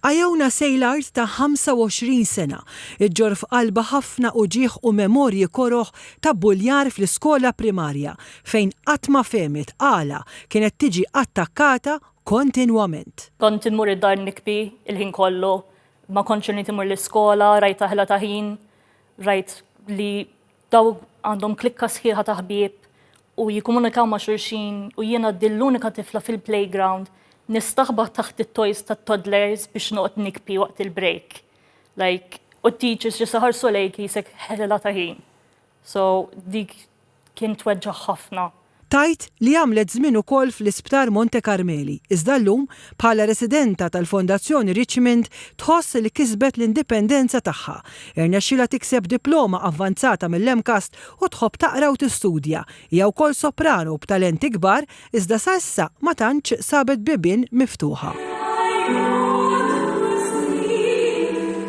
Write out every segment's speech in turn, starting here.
Iona Seilard ta' 25 sena ġġorr f'qalbha ħafna uġigħ u memorji koroh ta' bbuljar fl-iskola primarja fejn qatt ma fehmet għala kienet tiġi attakkata kontinwament. Kont immur id-dar nikbi l-ħin kollu, ma kontx irnid immur l-iskola, rajt aħla ta' ħin, rajt li Daw għandhom klikka sħiħa ta' ħbieb u jikkomunikaw ma' xulxin u jiena din l-unika tifla fil-playground nistaħba taħt it-toys tat-toddlers biex noqgħod nikpi waqt il-break. Like, u t-teachers just iħarsu lejk qisek ħela ta' ħin. So, dik kien tweġġaħ ħafna. Tgħid li għamlet żmien ukoll fl-Isptar Monte Carmeli, iżda llum, bħala residenta tal-Fondazzjoni Richmond, tħoss li kisbet l-indipendenza tagħha. Irnexxielha tikseb diploma avvanzata mill-MCAST u tħobb taqra u tistudja. Hija wkoll soprano b'talenti kbar, iżda sa issa ma tantx sabet bibien miftuħa.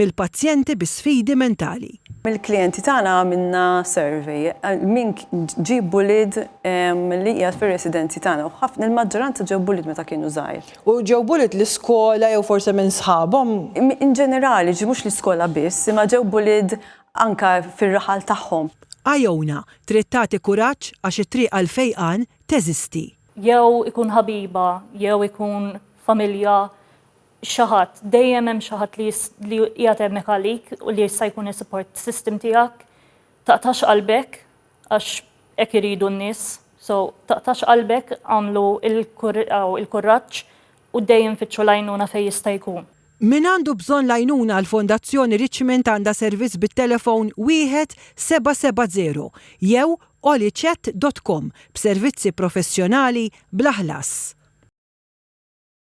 Mill-pazjenti bi sfidi mentali. Mill-klijenti tagħna għamilna survey għal min ġieb bullied li qiegħed fir-residenzi tagħna u ħafna, il-maġġoranza ġew bullied meta kienu żgħir. U ġew bullied l-iskola jew forsi minn sħabhom? In ġenerali, ġifieri mhux l-iskola biss, imma ġew bullied anke fir-raħal tagħhom. Iona trid tagħti kuraġġ għax it-triq għall-fejqan teżisti. Jew ikun ħabiba, jew ikun familja, xi ħadd, dejjem hemm xi ħadd li qiegħed hemmhekk għalik u li jista' jkun is-support system tiegħek. Taqtax qalbek għax hekk iridu n-nies. So taqtax qalbek għamlu il-kurraġġ u dejjem fittxu l-għajnuna fejn jista' jkun. Min għandu bżonn l-għajnuna l-Fondazzjoni Richmond għandha servizz bit-telefon wieħed seba' seba' żero jew olichat dot com b'servizzi professjonali bla ħlas.